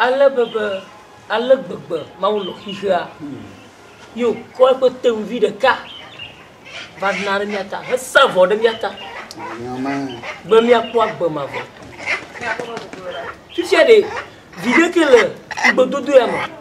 Ale be be, ale gbegbe Mawu lɔ xexea, ye wòkɔ eƒe teŋvi ɖeka va na ɖe mía ta hesa vɔ ɖe mía ta be míakpɔ agbe mavɔ. Fifia ɖe, viɖe ke le ŋugbedodo ya me.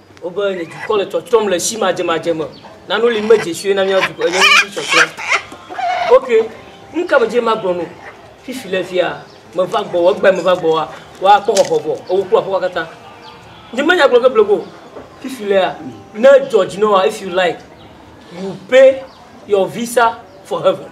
Wobe nye dukɔ le tsɔtsɔm le si madzemadze me. Nanu li medze sue na mía dukɔ enye ŋuti tsɔtsɔ. Ok, nu ka medze magblɔ no? Fifi le fia, meva gbɔ, egbe meva gbɔ wa, wa kpɔ xɔxɔ bɔ, ewo kpɔ afɔ kata. Nye menya gblɔ ke blego. Fifi le ya, ne George no wa, if you like, you pay your visa for heaven.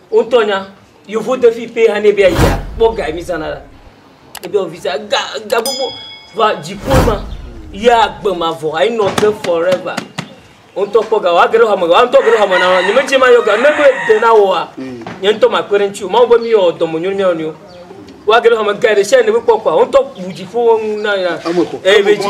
Wotɔ nya yovo de fi pɛ hane be ayia kpɔ ga mi zana la. Ebe ofisa ga ga gbogbo va dziƒo ma ya gbe ma vɔ ayi nɔ te forever. Wotɔ kpɔ ga wa gero hame wa ntɔ gero hame na ni me che ma yo ga ne be de na wa. Nye ntɔ ma kwere nchu ma wo be mi yo domo nyu mi onyo. Wa gero hame ga de sha ne be kpɔ kwa wotɔ bu dziƒo na ya. Ebe ji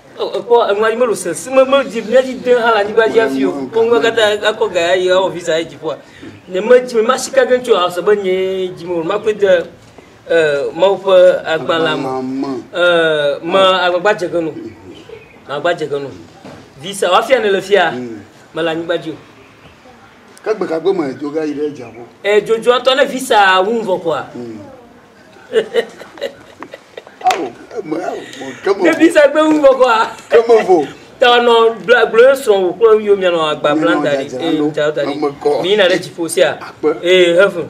Ekpɔ enua dzi melo se si me medzi míadzi de hã le anyigba dzi afi o. Kpɔ ŋgbe katã akɔ ga ayi awɔ visa ayi dziƒoa. Ne medzi me masi ka gentso asɔ be nye dzi me makpe de Mawu ƒe agbalẽ me. Me agbagba dze ge no. Agbagba dze ge no. Visa wafia ne le fia mele anyigba dzi o. Ke gbe ka gbe me edzo ga yi ɖe dziaƒo. Edzo dzo atɔ ne visa wu vɔ kɔa. Bebisa gbe wu bɔkɔ a. Keme vo. Tɔnɔ bla glo srɔn wò kple yio mia nɔ agba bla da ɖi. Ee ŋutsa ta ɖi. Mi yina ɖe dziƒo sia. Ee hefu.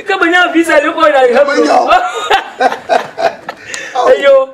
Ke menya visa ɖe kɔ yina hefu. Eyo.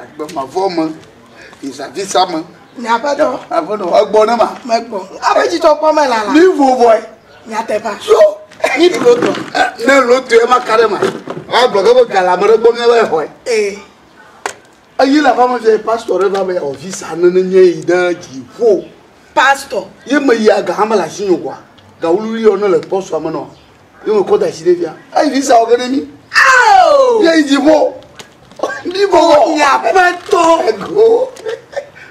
Agbe mavɔ me, nzavisa me. Nye aƒetɔ. Aƒetɔ, egbɔ ne ma. Megbɔ. Aƒe dzidzɔ kpɔ me lala. Mi vo vɔe. Nyateƒa. So. Mi ɖo tɔ. Ne ɖo tɔ ye ma ka ɖe ma. Agblɔ ke be gala me ɖe gbɔ mi ebe xɔe. Ee. Eyi le aƒame fia pastor ɖe va be yawɔ visa ne ne nye yi ɖe dziƒo. Pastor. Ye me yi aga hame le asi nyo gɔa. Gawululi yɔ ne le pɔsua me nɔ. Ni mo kɔ da si ɖe fia. Eyi fi sa ɔge ɖe mi. Ao. Ye yi dzi bo. Ni bo. Ya pe tɔ. Ego.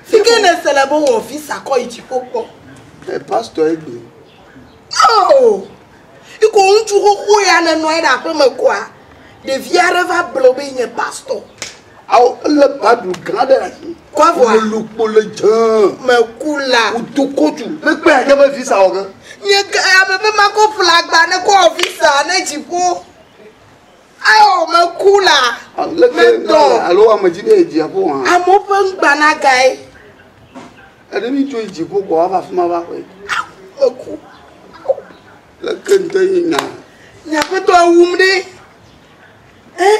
Si ke ne se le bo wɔ fi sa kɔ yi dzi bo kpɔ. E pastor e gbe. Ao. Iko ŋutsu xoxo ya ne nɔ anyi ɖe aƒeme koa, ɖevi aɖe va ble wo be yi nye pastor. Ao ele Bible gã ɖe asi. Kwa vɔ. Wo lu kpo le dze. Me ku la. Wo do kotu. Me kpe ake be visa wɔ ge. Nye ke ame be ma ko ƒla agba ne ko wɔ visa ne dziƒo. Ao me ku la. Le ke dɔ. Alo ame dzi be dziaƒo hã. Amewo ƒe ŋgba na gae. Ene mi tso dziƒo kɔ ava fi ma va ƒe. Me ku. Le ke ŋdɔ yi nya. Nya ƒe dɔ wum ɖe. Eh.